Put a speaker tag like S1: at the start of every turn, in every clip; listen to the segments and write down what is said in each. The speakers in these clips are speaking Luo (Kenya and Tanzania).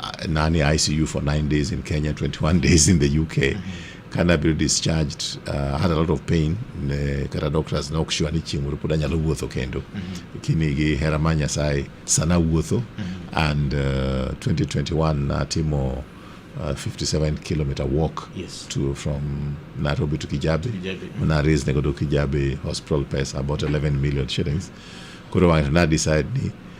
S1: uh, nani ICU for nine days in Kenya, 21 days in the UK. Kana be discharged, uh, had a lot of pain. Ne, kata doctors ne ok sure ni chieng' moro pod anyalo wuotho kendo. Kini gi hera mar Nyasaye sana wuotho and uh, 2021 natimo uh, 57 kilometer walk Yes. to from Nairobi to Kijabe. Kijabe, mm. Na raise nego do Kijabe hospital pesa about 11 million shillings. Koro wang'ato na decide ni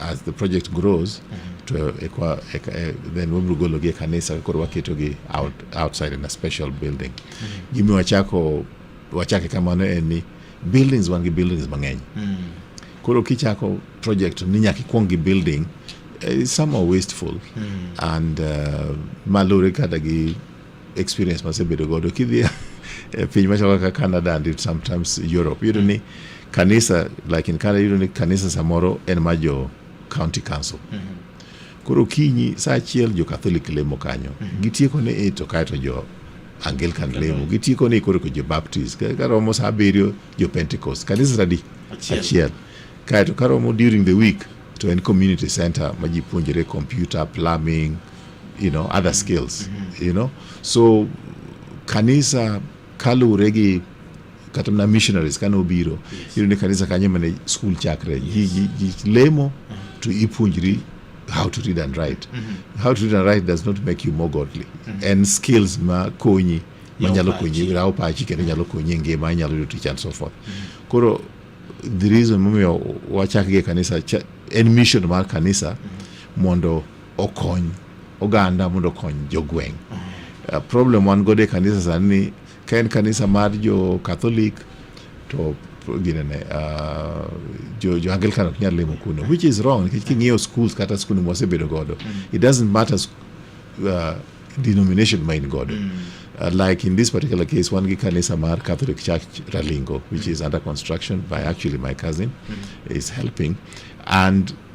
S1: As the project grows, mm -hmm. to ekwa, ek, eh, then wabiro gologi e kanisa koro waketogi out, outside in a special building. Mm -hmm. Gimi wachako wachake kamano en ni buildings wan gi buildings mang'eny. Mm -hmm. Koro kichako project ni nyaka ikwong gi building uh, some are wasteful mm. and uh, malure kada gi experience masebedo godo kidhi e eh, piny machalo kaka Canada and sometimes Europe yudo ni kanisa like in Canada yudo ni kanisa samoro en ma jo county council mm -hmm. koro kinyi saa achiel jo Catholic lemo kanyo mm -hmm. gitieko ni e to kaeto jo Anglican lemo gitieko ni koro jo Baptist karomo saa abiriyo jo Pentecost kanisa tadi achiel kaeto karomo during the week to en community center ma ji puonjore computer plumbing you know other skills mm-hmm. you know so kanisa kaluwre gi kata mna missionaries kane obiro iyudo ni kanisa kanye mane school chakre lemo mm-hmm. to ipuonjri how to read and write mm -hmm. how to read and write does not make you more godly mm -hmm. and skills ma konyi manyalo konyi rawo pachi kendo nyalo konyi e ngima inyalo yudo tich and so forth mm -hmm. koro the reason momiyo wachakgi e kanisa en mission mar kanisa mm -hmm. mondo okony oganda mondo okony jogweng'. Uh, problem wan godo e kanisa sani ni ka en kanisa mar jo Catholic to ginene uh, jo, jo Anglican ok nyal limo kuno which is wrong nikech king'iyo schools kata skunde mwasebedo godo it doesn't matter sk- uh, denomination ma in godo uh, like in this particular case wan gi kanisa mar Catholic Church Ralingo which is under construction by actually my cousin is helping and